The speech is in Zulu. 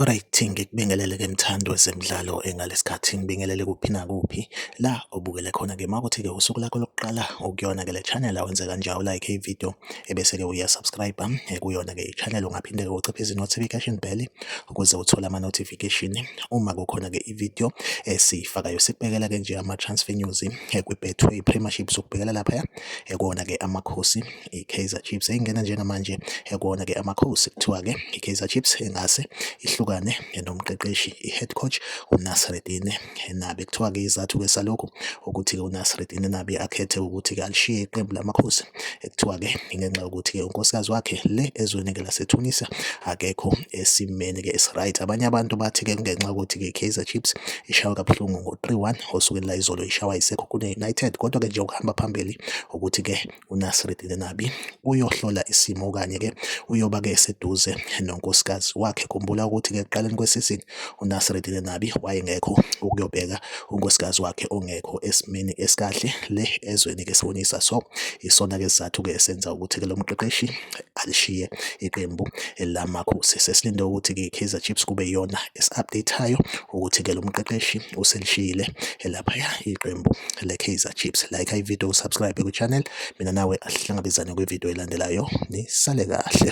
Alright, ngikubingelele ke mthandi wezemidlalo engalesikhathi ngibingelele kuphi nakuphi la obukele khona ke makuthi ke usuku lakho lokuqala ukuyona ke le channel awenze kanjalo like i video ebese-ke uyasubscribe eh, kuyona-ke i-channel ungaphinde-ke uciphize i-notification bell ukuze uthole ama-notification uma kukhona-ke i-video esiyifakayo sikubekela-ke nje ama-transfer news eh, kwi-betway premiership sokubhekela laphaya eh, kuwona-ke amakhosi i-kaizer chiefs eyingena njengamanje kuwona-ke amakhosi kuthiwa-ke i-kaizer chiefs engase ihlukane nomqeqeshi i-head coach unasredine eNabi. Kuthiwa-ke izathu-ke salokhu ukuthi-ke uNasreddin eNabi akhethe ukuthi-ke alishiye iqembu lamakhosi. Kuthiwa-ke ingenxa yokuthi-ke unkosikazi wakhe le ezweni-ke laseTunisia akekho esimeni-ke esi-right. Abanye abantu bathi-ke kungenxa yokuthi-ke i-Kaizer Chiefs ishawe kabuhlungu ngo-3-1 osukwini layizolo ishawa iSekhukhune United. Kodwa-ke nje okuhamba phambili ukuthi-ke uNasreddine Nabi uyohlola isimo okanye-ke uyoba-ke eseduze nonkosikazi wakhe. Khumbula ukuthi-ke ekuqaleni kwesizini uNasreddine Nabi wayengekho ukuyobheka unkosikazi wakhe ongekho esimeni esikahle le ezweni-ke sibonisa so isona-ke sizathu-ke esenza ukuthi-ke lo mqeqeshi alishiye iqembu lamakhosi. Sesilinde ukuthi-ke i-Kaizer Chiefs kube iyona esi-update-ayo ukuthi-ke lo mqeqeshi uselishiyile laphaya iqembu le-Kaizer Chiefs. Like ividiyo usubscribe kwi-channel. Mina nawe asihlangabezane kwividiyo elandelayo. Nisale kahle.